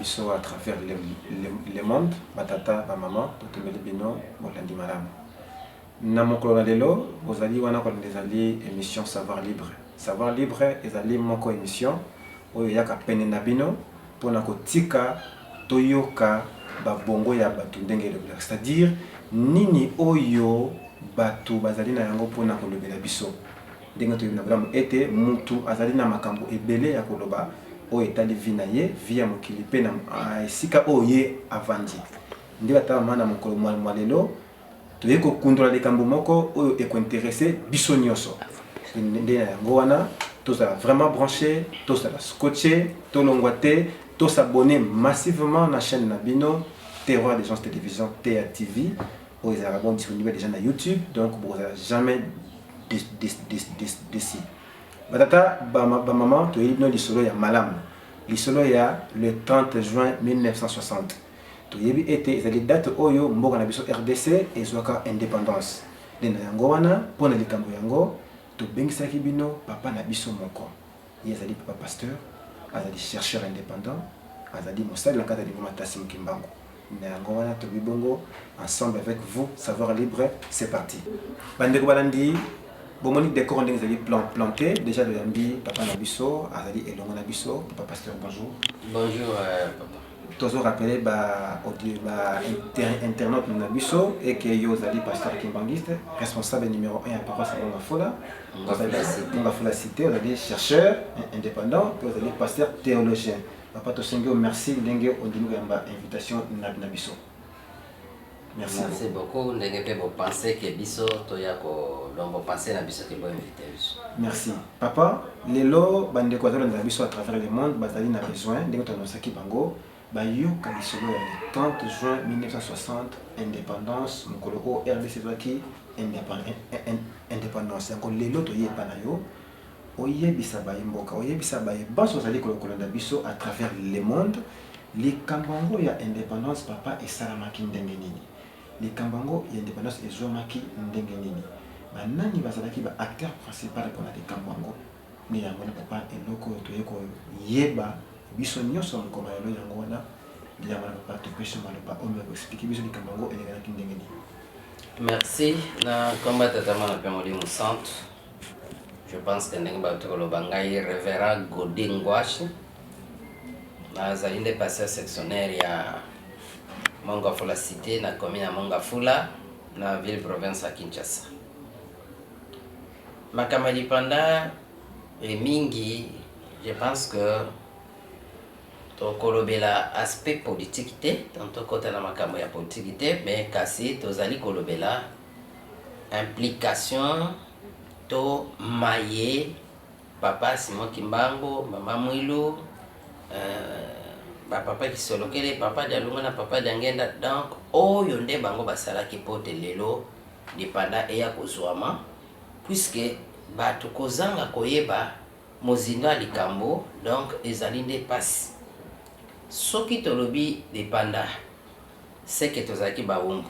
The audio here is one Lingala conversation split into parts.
biso à travers le, le, le monde batata bamama totombeli bino bolandi malamu Na mokolo na lelo bozali wana kolanda ezali emission savoir libre. Savoir libre ezali moko emission oyo eyaka pene na bino pona kotika toyoka ba bongo ya batu ndenge elobelaka c'est à dire nini oyo batu bazali na yango pona kolobela biso. Ndenge toyebi na bolamu ete mutu azali na makambo ebele ya koloba oyo etali vie na ye, vie ya mokili pe na esika oyo ye avandi. Nde ba tata ba mama na mokolo mua lelo Toye ko kundola likambo moko oyo eko interesse biso nioso nde na yango wana tozala vraiment branche tozala scotche tolongwa te to s'abonner massivement na chaine na bino terroir des gens television tea TV oyo ezalaka bon disponible dejà na youtube donc bokozala jamais desi batata ba maman toyebi bino lisolo ya malamu lisolo ya le 30 juin 1960 Toyebi ete ezali date oyo mboka na biso rdc ezwaka independance. Nde na yango wana, mpo na likambo yango, tobengisaki bino papa na biso moko. Ye azali papa pasteur, azali chercheur independant, azali mosali na kati ya lingoma Tassim Kimbangu. Na yango wana tolobi bongo, ensemble avec vous, Savoir Libre, c'est parti. Ba ndeko balandi, bomoni decor ndenge ezali plan, plante, dejà toyambi papa na biso, azali elongo na biso, papa pasteur bonjour. Bonjour papa. Tozo rappeler ba audio ba internautes na biso et que yo ozali pasteur kimbanguiste, responsable numero 1 ya paroisse Manga Fola, Manga Fola cité, ozali chercheur indépendant, puis ozali pasteur théologien. Papa tosengi yo merci ndenge ondimi koyamba invitation na biso. Merci. Merci beaucoup ndenge pe bo penser que biso toya ko donc bo penser na biso que bo inviter biso. Merci papa lelo ba ndeko bazo landa biso à travers le monde bazali na besoin ndenge to annonçaki bango ba yoka lisolo ya le 30 juin 1960 independance mokolo oyo RDC ezwaki independance yango lelo toye epa na yo Oyebisa bayi mboka, oyebisa baye banso bazali kolokolanda biso à travers le monde likambo yango ya independance papa esalamaki ndenge nini? Likambo yango ya independance ezuamaki ndenge nini? Ba nani bazalaki ba acteurs principal pona likambo yango? Nde yango wana papa eloko oyo toye koyeba biso nionso na mokolo ya lelo yango wana nde yango wana papa topesi yo maloba oyo ya ko expliquer biso likambo yango elekanaki ndenge nini? Merci na komba tata muana pe molimo santu. Je pense que ndenge bauti koloba ngai Reverend Godi Ngwashi nazali nde pasteur sectionnaire ya Mongafula cité na commune ya Mongafula na ville province ya Kinshasa. Makambo ya lipanda e mingi, je pense que tokolobela aspect politique te, tokota na makambo ya politique te, mais kasi tozali kolobela implication to maye papa Simon Kimbangu, mama Mwilu, euh, ba papa Kisolokele, papa Dialunga na papa Diangenda. Donc oyo nde bango basalaki pote lelo lipanda eya kozwama puisque bato kozanga koyeba mozindo ya likambo donc ezali nde mpasi soki tolobi lipanda seke tozalaki bawumbu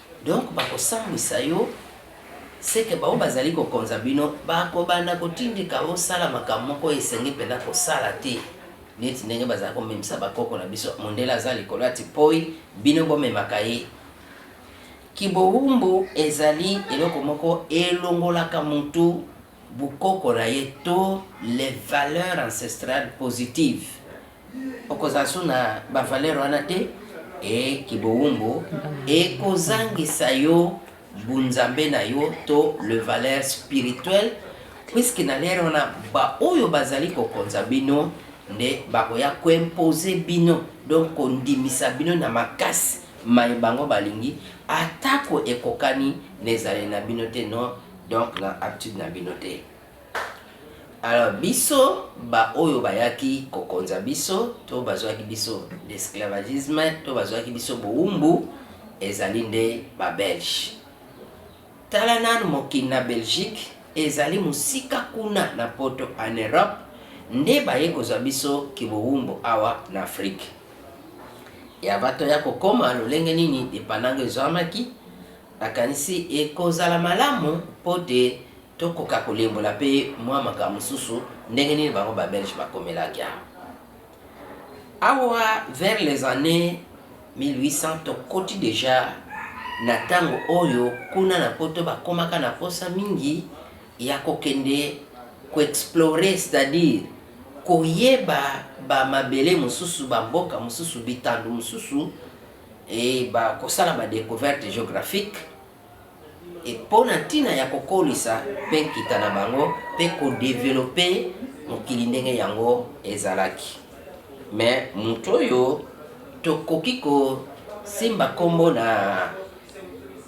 Donc bakosambwisa yo seke baoyo bazali kokonza bino bakobanda kotindika osala makambo moko oyo esengeli mpenza kosala te, neti ndenge bazali komemisa bakoko na biso. Mondele aza likolo ya tipoi, bino bomemaka ye. Kibowumbu ezali eloko moko elongolaka mutu bokoko na ye to les valeurs ancestrales positives. Okozala su na ba valeur wana te ee kibowumbu ekozangisa yo bunzambe na yo to le valeur spirituel puisque na lere wana ba oyo bazali kokonza bino nde bakoya koimpose bino donc kondimisa bino na makasi mai bango balingi atako ekokani na ezaleli na bino te no donc na aptitude na bino te Alors biso ba oyo bayaki kokonza biso to bazwaki biso l'esclavagisme to bazwaki biso bowumbu ezali nde ba belge tala nanu mokili na belgique ezali mosika kuna na poto en europe nde baye kozwa biso kibowumbu awa na afrique ya bato ya kokoma lolenge nini depandango ezwamaki nakanisi ekozala malamu mpo te Tokoka kolimbola mpe mwa makambo mosusu ndenge nini bango ba Belges bakomelaki awa. Awa vers les annees 1800 tokoti dejà na tango oyo kuna na poto bakomaka na posa mingi ya kokende ko explorer c'est à dire koyeba ba mabele mosusu, ba mboka mosusu, bitando mosusu et ba kosala ba decouverte geographique. et po na ntina ya kokolisa pe nkita na bango pe ko developper mokili ndenge yango ezalaki. Mais mutu oyo tokoki ko simba kombo na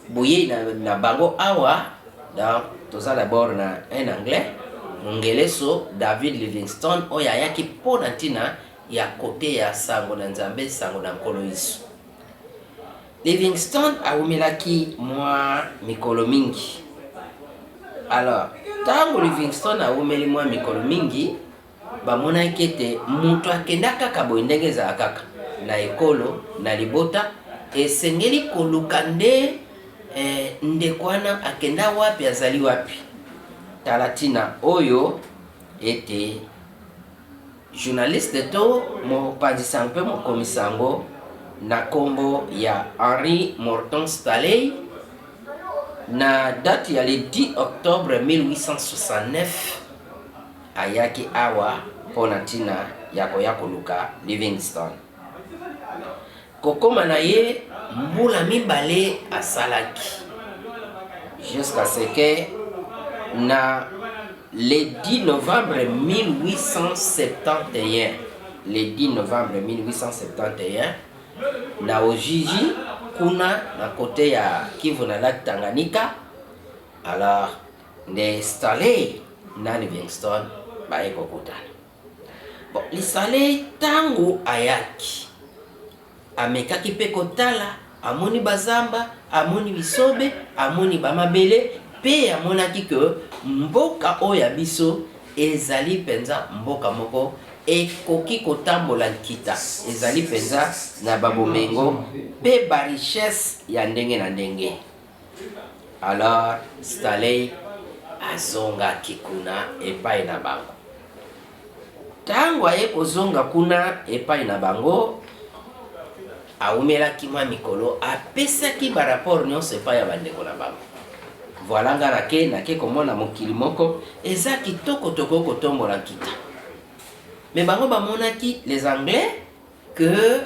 boyei na bango awa, donc toza d'abord na un anglais, mongeleso, David Livingstone, oyo ayaki po na ntina ya koteya sango na Nzambe, sango na Nkolo Yesu. Livingston awumelaki mwa mikolo mingi. Alors, ntango Livingston awumeli mwa mikolo mingi, bamonaki ete moto akenda kaka boye ndenge ezala kaka na ekolo, na libota, esengeli koluka nde eh, ndeko wana akenda wapi, azali wapi. Tala ntina oyo ete Journaliste to mopanzi sango mpe mokomi sango na kombo ya Henri Morton Stanley na date ya le 10 octobre 1869 ayaki awa mpo na ntina ya koya koluka Livingstone. kokoma na ye mbula mibale asalaki jusqu'à ce que na le 10 novembre 1871 le 10 novembre 1871 na Ojiji kuna na kote ya Kivu na lac Tanganyika alors nde Stanley na Livingstone baye kokutana Lisalei tango ayaki amekaki mpe kotala, amoni bazamba, amoni bisobe, amoni ba mabele, mpe amonaki que mboka oyo ya biso ezali mpenza mboka moko ekoki kotambola nkita, ezali mpenza na ba bomengo mpe ba richesses ya ndenge na ndenge. Alors Stanley azongaki kuna epai na bango. Ntango aye kozonga kuna epai na bango, awumelaki mwa mikolo, apesaki baraport nyonso epai ya bandeko na bango. Voilà nga nake nake komona mokili moko eza kitoko, tokoki kotombola nkita. Mais bango bamonaki les anglais que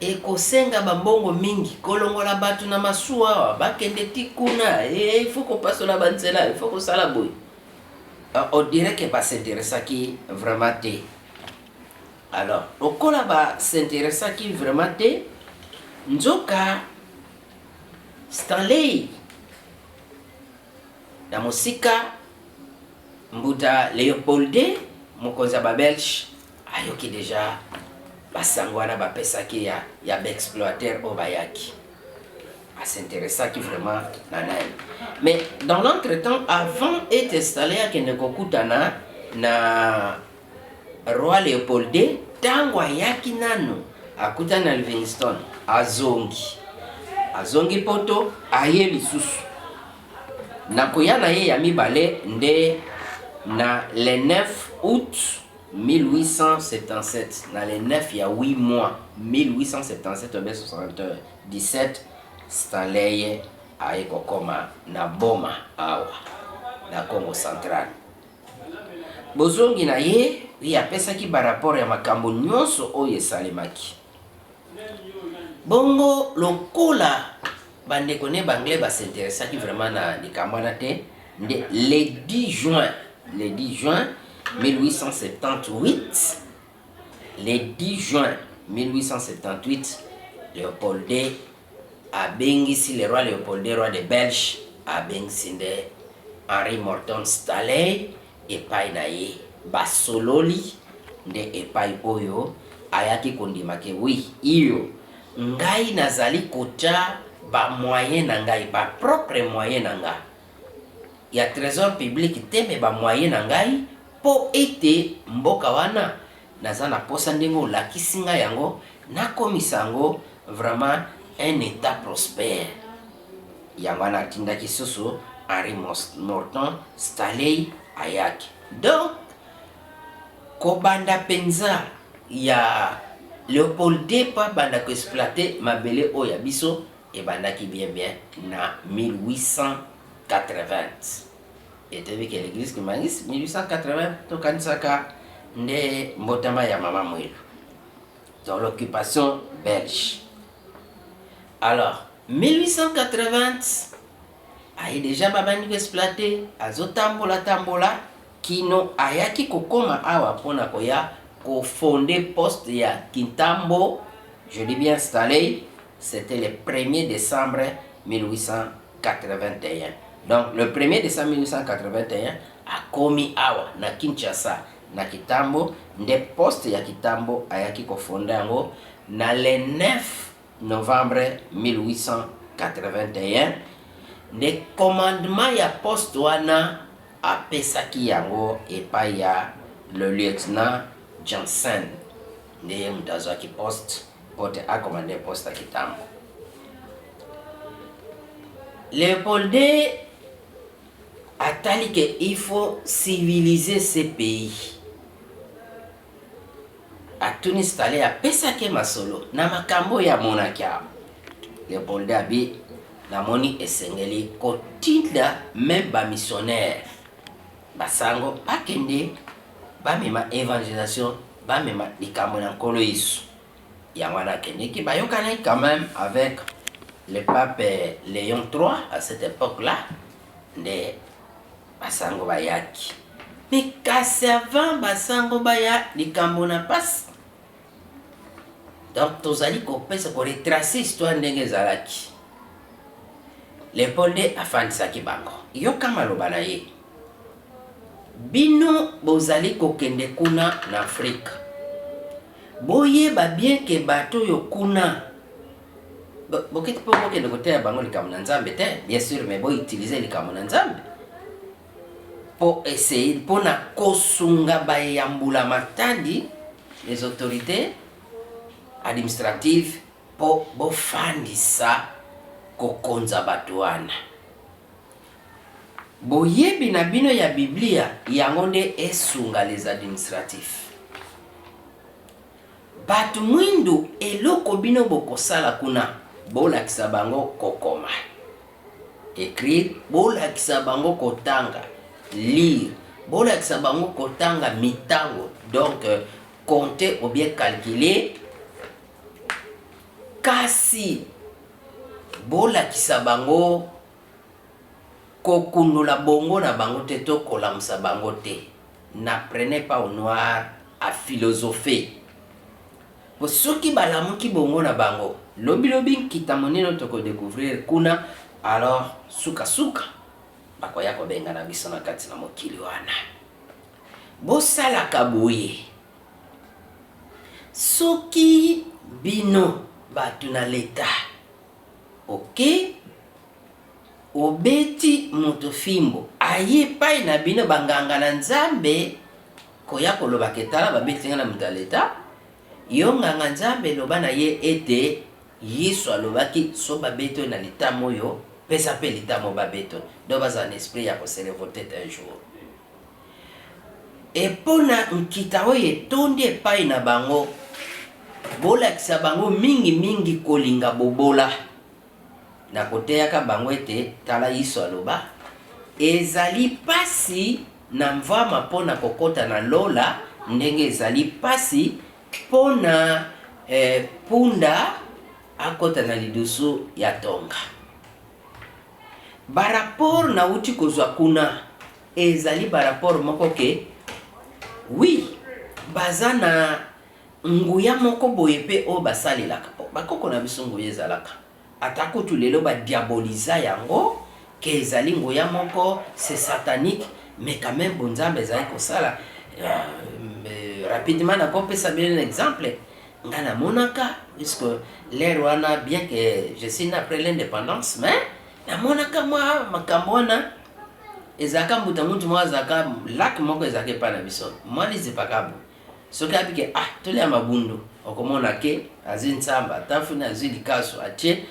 ekosenga ba mbongo mingi kolongola batu na masuwa awa bakende ti kuna e il faut kopasola ba nzela il faut kosala boye ah, on dirait que basinteressaki vraiment te alors lokola basinteressaki vraiment te nzoka stanley na mosika mbuta leopolde mokonzi ya babelge Ayoki dejà ba sango wana ba pesaki ya ya ba exploiteurs oyo bayaki. A s'interessaki vraiment na nani. Mais dans l'entre temps avant est installer akende ko kutana na Roi Leopold ii tango ayaki nanu akutani na Livingstone azongi. Azongi poto aye lisusu. Na koya na ye ya mibale nde na le 9 aout 1877 na le 9 ya huit mois 1877 obe 77 Stanley aye kokoma na Boma awa na Congo central. Bozongi na ye ye apesaki barapore ya makambo nyonso oyo esalemaki. Bongo lokola Ba ndeko ne b'anglais ba s'interessaki vraiment na likambo wana te, nde le 10 juin, le 10 juin 1878, le 10 juin 1878, Leopold ii abengisi, le roi Leopold ii, roi de Belge, abengisi nde Henri Morton Stanley, epai na ye basololi nde epai oyo ayaki kondima ke oui iyo ngai nazali kotia ba moyen na ngai ba propre moyen na nga ya tresor public te mais ba moyen na ngai po ete mboka wana naza na posa ndenge olakisi nga yango nakomisa yango vraiment un etat prospere Yango wana atindaki lisusu Henri Morton Stanley ayaki. Donc kobanda penza ya Leopold ii mpo abanda ko exploiter mabele oyo ya biso ebandaki bien bien na 1880. Etebi ke l'eglise kimbanguiste 1880 tokanisaka nde mbotama ya mama Mwelu. Donc l'occupation belge. Alors 1880 aye dejà babandi ko exploiter azo tambola tambola kino ayaki kokoma awa mpona koya ko fonde poste ya Kintambo je dis bien installe c'était le premier decembre 1881 donc le premier decembre 1881 akomi awa na Kinshasa na Kitambo nde poste ya Kitambo ayaki kofonda yango na le 9 Novembre 1881 nde commandement ya poste wana apesaki yango epai ya le lieutenant Janssen, nde ye moto azwaki poste mpo te a commander poste ya Kitambo. Leopolde atali que il faut civiliser ce pays. Atuni Stanley apesaki ye masolo na makambo oyo amonaki awa. Leopoldo abi namoni esengeli kotinda meme bamisionnaire basango bakende bamema evangelisation bamema likambo na nkolo yesu yango wana akendeki bayokanaki quand même avec le pape léon 3 à cette époque là nde Basango bayaki mais kasi avant basango baya likambo na pasi donc tozali kopesa koretrace histoire ndenge ezalaki leopold nde afandisaki bango yoka maloba na ye bino bozali kokende kuna na afrika boyeba bien ke bato oyo kuna bokiti mpo bokende koteya bango likambo na nzambe te bien sûr mais boutilize likambo na nzambe mpo essaye mpo na kosunga baye ya mbula matadi les autorités administratives mpo bofandisa kokonza bato wana boyebi na bino ya biblia yango nde esunga les administratifs Batu mwindu eloko bino bokosala kuna bolakisa bango kokoma, ecrire, bolakisa bango kotanga, lire, bolakisa bango kotanga mitango donc compter ou bien calculer kasi bolakisa bango kokundola bongo na bango te to kolamusa bango te. N'apprenez pas aux noirs à philosopher po soki balamuki bongo na bango lobi lobi nkita monene toko decouvrir kuna alors suka suka bakoya kobengana biso na kati na mokili wana. Bosalaka boye soki bino batu na l'etat ok? Obeti moto fimbo aye epai na bino banganga na Nzambe koya koloba ke tala babeti ngai na moto ya leta, yo nganga Nzambe loba na ye ete Yesu alobaki soki babeti yo na litama oyo pesa pe litama oyo babeti oyo donc bazala na esprit ya ko se revolter un jour et pona nkita oyo etondi epai na bango bolakisa bango mingi mingi kolinga bobola. na koteyaka bango ete, tala Yesu aloba, Ezali mpasi na mvama mpo na kokota na lola ndenge ezali mpasi mpo na eh, punda akota na lidusu ya tonga. Baraport nauti kozwa kuna ezali baraport moko ke wi baza na Nguya moko boye mpe oyo basalelaka po bakoko na biso nguya ezalaka ata kutu lelo ba diaboliza yango que ezali nguya moko c'est satanique mais quand meme bonzambe ezali kosala rapidement na ko pesa bino exemple nga na monaka puisque l'heure wana bien que je suis né après l'indépendance mais na monaka mwa makambo wana ezalaka mbuta muntu moko azalaka lac moko ezalaka epa na biso mwa lizipakabu Soki abi ke ah tolia mabundu okomona ke azwi nsamba ata funi azwi likasu atie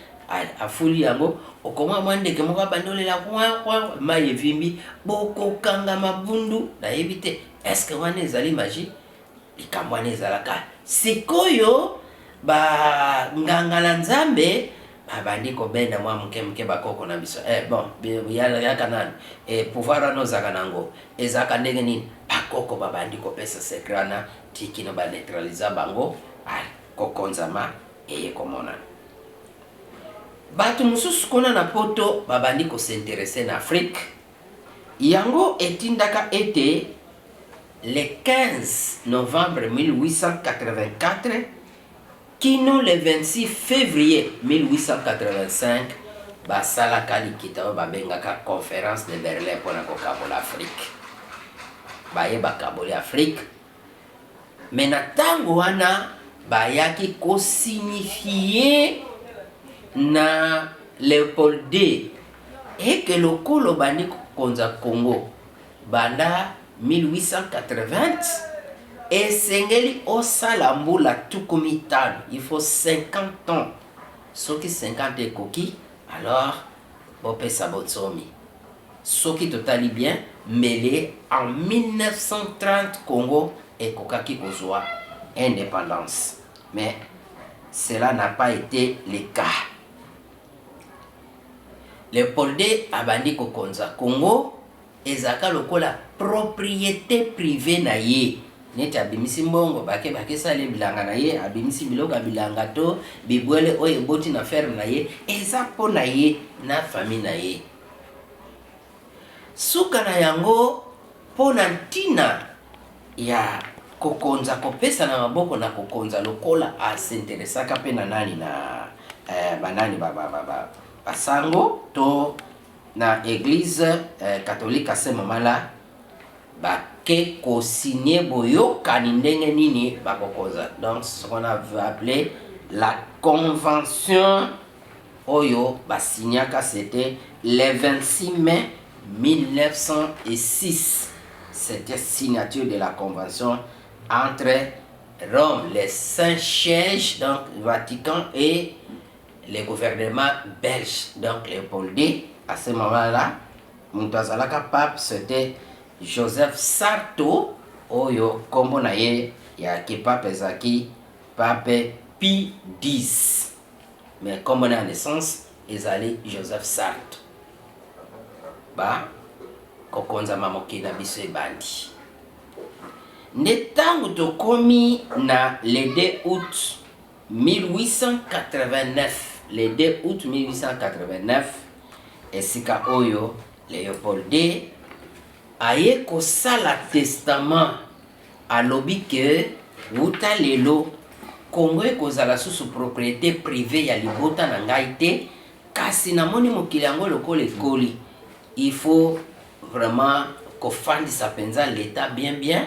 afuli yango okomona mwa ndeke moko abandi olela kwan kwan mai evimbi bokokanga mabundu nayebi te eske wana ezali magi likambo wana ezalaka sikoyo banganga na nzambe Ba bandi ko benda mwa muke muke ba koko na biso eh bon ya yaka nanu eh pouvoir wana ozalaka na ngo ezalaka ndenge nini ba koko ba bandi ko pesa secret wana ti kino ba neutralisa bango ah ko konzama eye ko monana. Batu mususu kuna na poto ba bandi ko s'interesser na Afrique yango etindaka ete le 15 novembre 1884 Kino le 26 fevrier 1885, basalaka likita oyo babengaka Conference de Berlin mpo na kokabola Afrique. Baye bakaboli Afrique, mais na tango wana bayaki ko signifier na Leopold ii et que lokola obandi kokonza Congo, Banda 1880, esengeli osala mbula tuku mitano, il faut 50 ans, soki 50 ekoki alors bopesa bonsomi. Soki totali bien, mbele en 1930 Congo ekokaki kozua independance mais cela n'a pas ete le cas. Leopold ii abandi kokonza Congo Ezalaka lokola propriete privee na ye. Neti abimisi mbongo, bake bake esali ye bilanga na ye, abimisi biloko ya bilanga to bibwele oyo eboti na ferme na ye, eza mpo na ye na famille na ye. Suka na yango, mpo na ntina ya kokonza, kopesana maboko na kokonza lokola a s'interesaka mpe na nani, na, eh, banani, ba, ba, ba, ba, ba sango to Na eglise catholique ya Saint Mamala ba ke ko signer boyokani ndenge nini ba ko konza. Donc c'est ce qu'on a appele la convention oyo ba signaka c'etait le 26 mai 1906. C'etait signature de la convention entre Rome, le Saint-Siège, donc Vatican et Le gouvernement belge donc Leopoldi à ce moment là moto azalaka pape c'était Joseph Sarto oyo kombo na ye ya kipape ezalaki pape Pi 10 mais kombo na ya naissance ezali Joseph Sarto ba kokonzama mokili na biso ebandi nde ntango tokomi na le 2 août 1889, le 2 aout 1889, esika oyo Leopold ii aye kosala testament, alobi que wuta lelo Congo ekozala susu propriete privee ya libota na ngai te, kasi namoni mokili yango lokola ekoli, il faut vraiment kofandisa penza l'Etat bien bien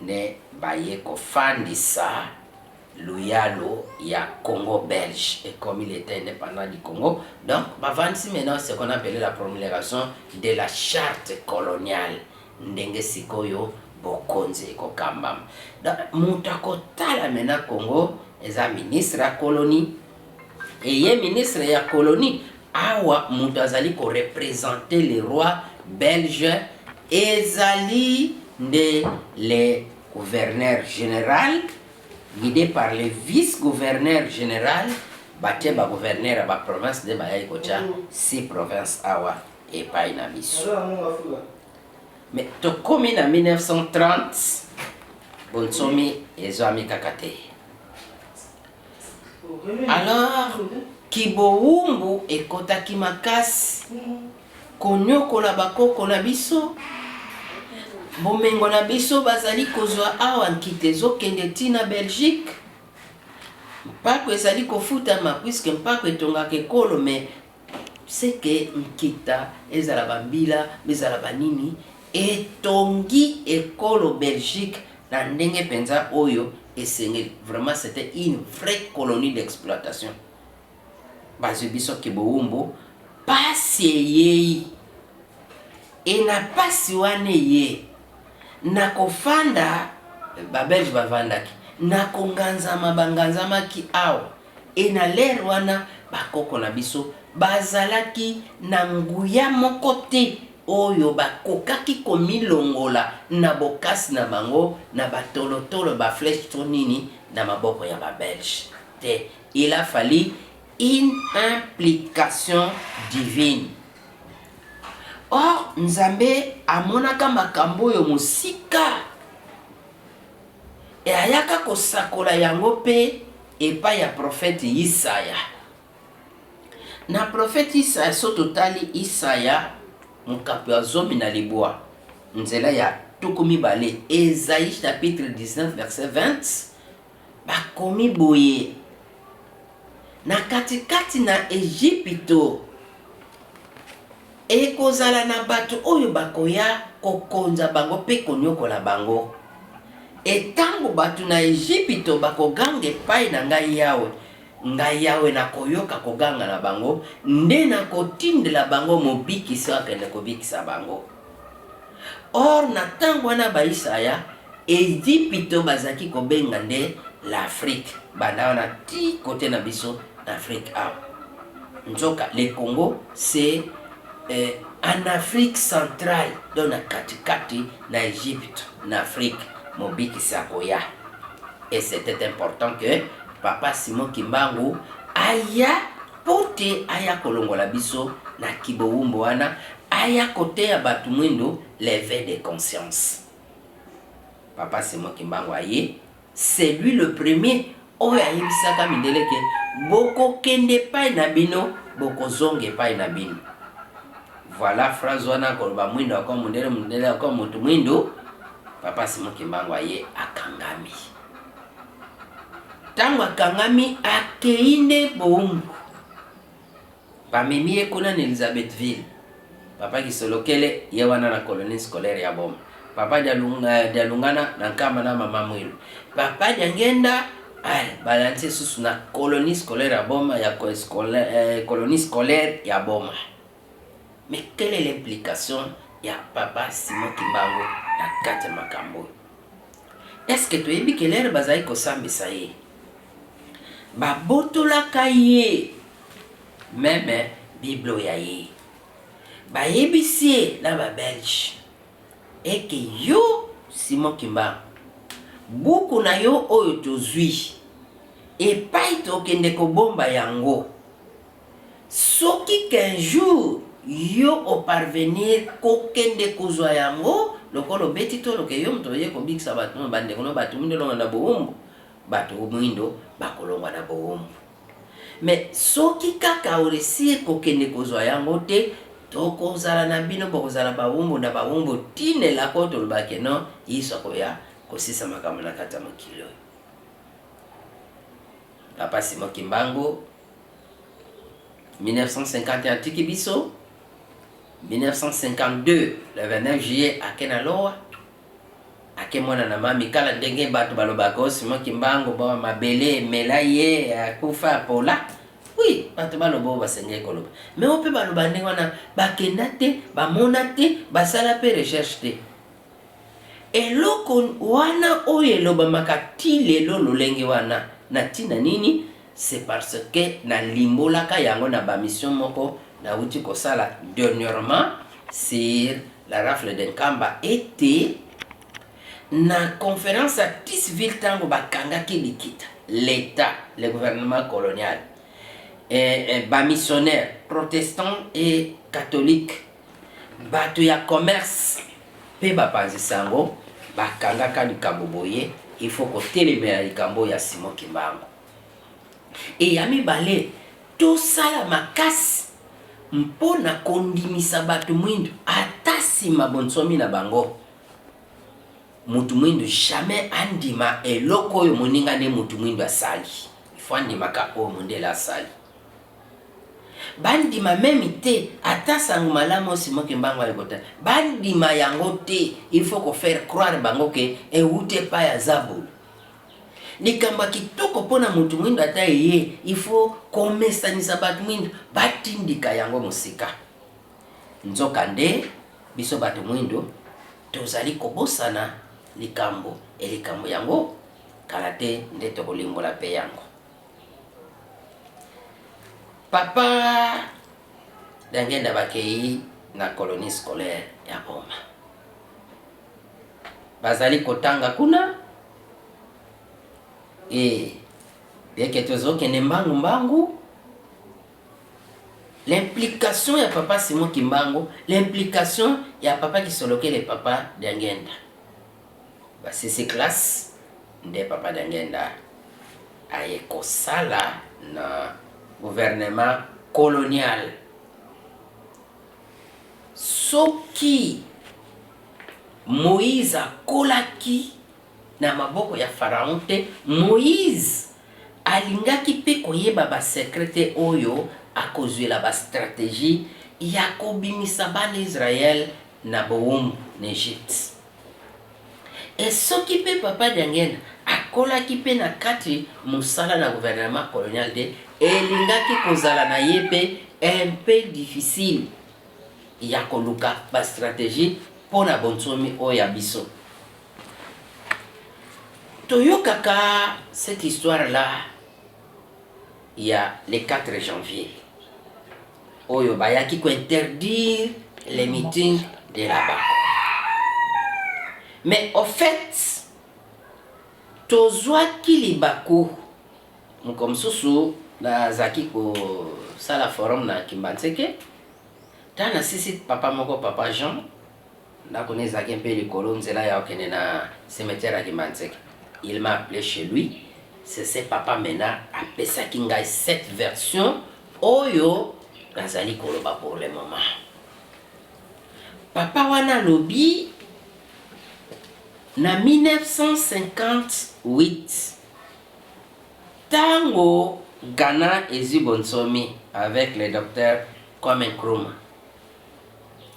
nde baye kofandisa luyalo ya Congo belge ekomi l'etat independant du Congo donc bavandisi maintenant ce qu'on appelle la promulgation de la charte coloniale ndenge sikoyo bokonzi ekokambama donc moto akotala maintenant Congo eza ministre ya colonie Et ye ministre ya colonie awa mutu azali ko representer le roi belge ezali nde le gouverneur general guide par le vice gouverneur general batie ba gouverneur ya ba province nde bayaki kotia six province awa epayi na biso mais tokomi na 1930 bonsomi ezwami kaka te Alors kibowumbu ekotaki makasi konyokola bakoko na biso bomengo na biso bazali kozwa awa nkita ezokende ti na belgique mpako ezali kofutama puiske mpako etongaka ekolo mais ce que nkita ezala ba mbila ezala ba nini etongi ekolo Belgique na ndenge penza oyo esengeli vraiment c'etait une vraie colonie d'exploitation bazwi biso kibowumbu pasi eyei e na pasi wana eye na kofanda ba Belge bavandaki na konganzama banganzamaki awa Et na l'heure wana ba koko na biso bazalaki na nguya moko te oyo bakokaki komilongola na bokasi na bango na ba tolo tolo, ba flèches to nini na maboko ya ba belges te. Il a fallu une implication divine. Or Nzambe amonaka makambo oyo mosika. E ayaka kosakola yango mpe epai ya profete Yisaya. Na profete Yisaya, soki totali Yisaya mokapo ya zomi na libwa, nzela ya tuku mibale, Esaie chapitre 19 verset 20, bakomi boye, Na katikati na Ejipito, Ekozala na bato oyo bakoya kokonza bango mpe konyokola bango. E tango bato na Ejipito bakoganga epai na Ngai Yawe, Ngai Yawe nakoyoka koganga na bango, nde nakotindela bango Mobikisi oyo akende kobikisa bango. Or na tango wana Bayisaya, Ezipito bazalaki kobenga nde l'Afrique, banda wana tii cote na biso na Afrique awa. Nzoka le Congo c'est en Afrique centrale, donc na kati kati na Egypte na Afrique mobikisi akoya. Et c'etait important que Papa Simon Kimbangu aya Mpo te aya kolongola biso na kibowumbu wana, aya koteya bato mwindo l'eveil de conscience. Papa Simon Kimbangu aye, c'est lui le premier oyo ayebisaka mindele ke, bokokende epai na bino, bokozonga epai na bino. Voilà phrase wana koloba mwindo akomi mundele, mundele akomi moto mwindo, Papa Simon Kimbangu aye akangami. ntango akangami akei nde boumbu bamemi ye kuna na elizabethville papa kisolokele ye wana na colonie scolaire ya boma papa dialungana eh, na nkama na mama mwilu papa diangenda eh, balansi esusu na colonie scolaire ya boma ya eh, colonie scolaire ya boma Mais quelle est l'implication ya papa Simon Kimbangu na kati ya makambo oyo? Est-ce que toyebi que l'heure bazali kosambisa ye babotolaka ye meme biblo ya ye bayebisi ye na ba belge eke yo Simon Kimbangu buku na yo oyo tozwi epai tokende kobomba yango Soki qu'un jour yo o parvenir ko kende kozua yango, lokola obeti tolo que yo moto oye kobikisa bato no, ba ndeko no bato moindo elonga na bowumbu, bato moindo ba kolongwa na bowumbu. Mais soki kaka o reussir ko kende kozua yango te, toko zala na bino boko zala bawumbu na bawumbu ti n'elaka oyo toloba que non Yesu akoya ko silisa makambo na kati ya mokili oyo. Papa Simon Kimbangu. 1951 atiki biso 1952 le 29 juillet ake na lowa ake mwana na mami kala ndenge bato balobaka o oh, simo kimbangu bo mabele emela ye akufa apola oui bato baloba oyo basengeli koloba me oyo mpe baloba ndenge wana bakenda te bamona te basala mpe recherche te eloko wana oyo elobamaka ti lelo lolenge wana na ntina nini C'est parce que na limbolaka yango na ba mission moko na wuti ko sala dernièrement sur la rafle de Nkamba et te na conference ya Tisville tango ba kangaki likita l'etat le gouvernement colonial et, et ba missionnaires protestants et catholiques Bato ya commerce mpe bapanzi sango bakangaka likambo boye, il faut kotelemela likambo oyo ya Simon Kimbangu. Et ya mibale, tosala makasi mpo na kondimisa bato mwindu ata sima bonsomi na bango, moto mwindu jamais andima eloko oyo moninga ne moto mwindu asali, il faut andimaka oyo mondele asali. Bandima meme te ata sango malamu oyo Simon Kimbangu aye kota bandima yango te il faut ko faire croire bango que ewuti epai ya zabolo. Likambo ya kitoko mpo na mutu muindu ata eye il faut komesanisa batu muindu batindika yango mosika. Nzoka nde biso batu muindu tozali kobosana likambo et likambo yango kala te nde tokolimbola mpe yango. Papa Diangenda bakei na colonie scolaire ya Boma, bazali kotanga kuna e yeke tozokende mbangu mbangu l'implication ya papa Simon Kimbangu, l'implication ya papa Kisolokele, papa Diangenda Ba sese classe nde papa Diangienda aye kosala na gouvernement colonial. Soki Moïse akolaki na maboko ya Pharaon te, Moïse alingaki pe koyeba ba secret te oyo akozuela ba strategie ya kobimisa bana Israël na bowumbu na Egypte. E soki mpe Papa Diangenda akolaki mpe na kati mosala na gouvernement colonial te, elingaki kozala na ye mpe un peu difficile ya koluka ba strategies mpo na bonsomi oyo ya biso. Toyokaka cette histoire là ya le 4 janvier. oyo bayaki ko interdire les meetings de la banque mais au fait tozwaki libaku mokolo mosusu nazalaki kosala forum na kimbanseke ntango nasisi papa moko papa jean Ndako na ye ezalaki mpe likolo nzela ya kokende na cimetière ya Kimbanseke. Il m'a appele chez lui, c'est ce Papa Mena apesaki ngai cette version oyo nazali koloba pour le moment. Papa wana alobi na 1958 tango Ghana ezwi bonsomi avec le docteur Kwame Nkrumah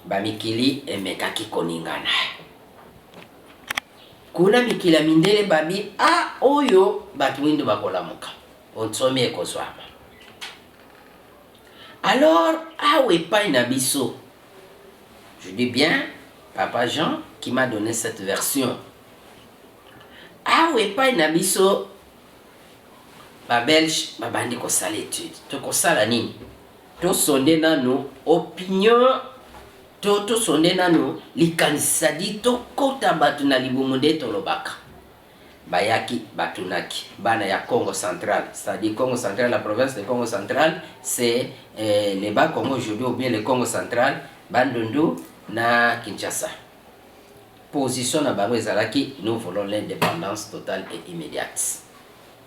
Bamikili emekaki koningana. Kuna mikili ya mindele babi a ah, oyo bato mindo bakolamuka, bonsomi ekozwama. Alors awa epai na biso, je dis bien Papa Jean qui m'a donné cette version. Awa epai na biso ba Belge babandi kosala etude, tokosala nini? To sonde nanu opinion to to sonde nanu likanisi sadi to kota batu na libumu nde tolobaka. Bayaki batunaki bana ya Kongo central sadi Kongo central la province de Kongo central se eh, le ba Kongo aujourd'hui ou bien le Kongo central Bandundu na Kinshasa. Position na bango ezalaki nous voulons l'independance totale et immédiate.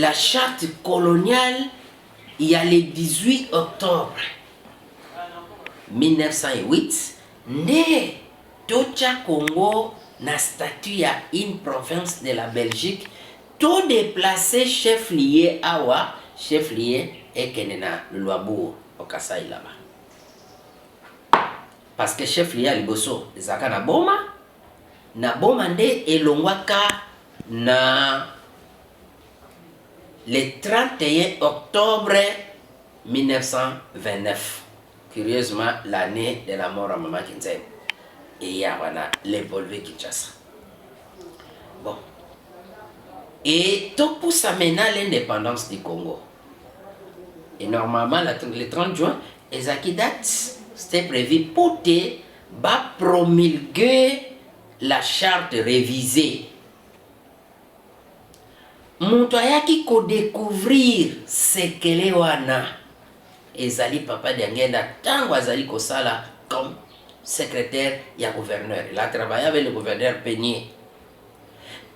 La charte coloniale ya le 18 octobre 1908 nde totya Congo na statut ya une province de la Belgique, to deplacer chef lieu awa chef lieu ekende na Luabourg au Kasaï là-bas. Parce que chef lieu ya liboso ezalaka na Boma, Na boma nde elongwa ka na le 31 octobre 1929 curieusement l'annee de la mort ya maman Kinzelu eye awa na le Bolve Kinshasa bon et to pusa mena l'independance du Congo et normalement la, le 30 juin ezaki date c'était prévu pour te Ba promulguer la charte revisee. Mutu ayaki ko decouvrir sekele wana ezali Papa Diangienda tango azali kosala comme secretaire ya gouverneur. Il a travaille avec le gouverneur Penier.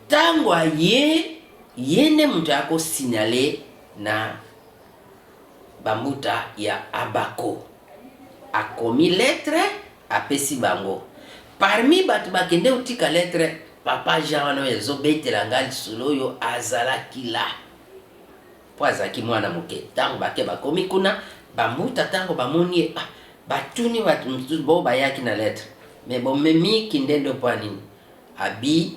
Tango aye ye nde mutu ako signaler na Bambuta ya Abako. Akomi lettre apesi bango. Parmi batu bakende kotika lettre, papa Jean wana oyo ezo betela nga lisolo oyo azalaki là. Po azalaki mwana moke. Tango bake bakomi kuna, Bambuta tango bamoni ye, ah batuni batu mosusu, bo bayaki na lettre mais bomemi kindendo po ya nini? Abi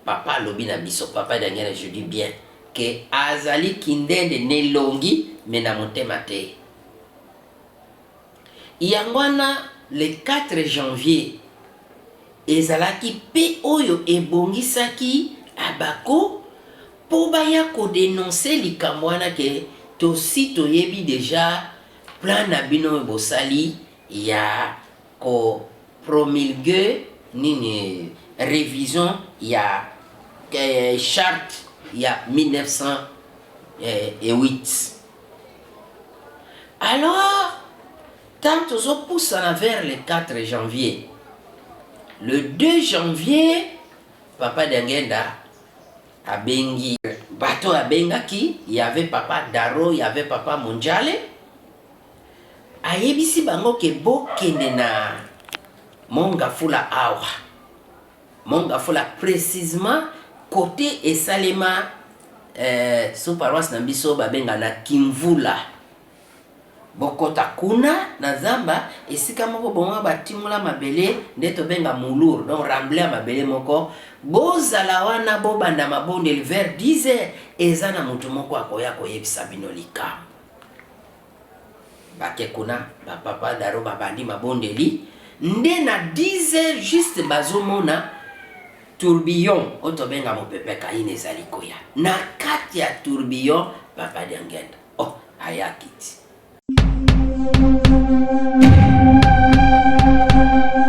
Papa alobi na biso papa Daniel je dis bien que azali kindende n'elongi mais na motema te yango wana le 4 janvier ezalaki pe oyo ebongisaki abako po baya ko denoncer likambo wana ke tosi toyebi deja plan na bino oyo bosali ya Ko promulgue nini revision ya charte ya 1908 alors tango tozo pusana vers le 4 janvier le 2 janvier papa Diangienda abengi bato abengaki y'avait papa Daro y'avait papa Monjale Ayebisi bango ke bokende na mont Ngafula awa mont Ngafula precisement cote esalema eh, sous paroisse na biso babenga na Kimvula bokota kuna na zamba esika moko bongo batimola mabele nde tobenga mulur donc ramble ya mabele moko bozala wana bobanda mabondeli vers 10 heures eza na moto moko akoya koyebisa bino likambo Bake kuna ba papa daro babandi mabondeli nde na 10 heures juste bazomona tourbillon oyo tobenga mopepe kaina ezali koya na kati ya tourbillon papa diangenda oh ayakiti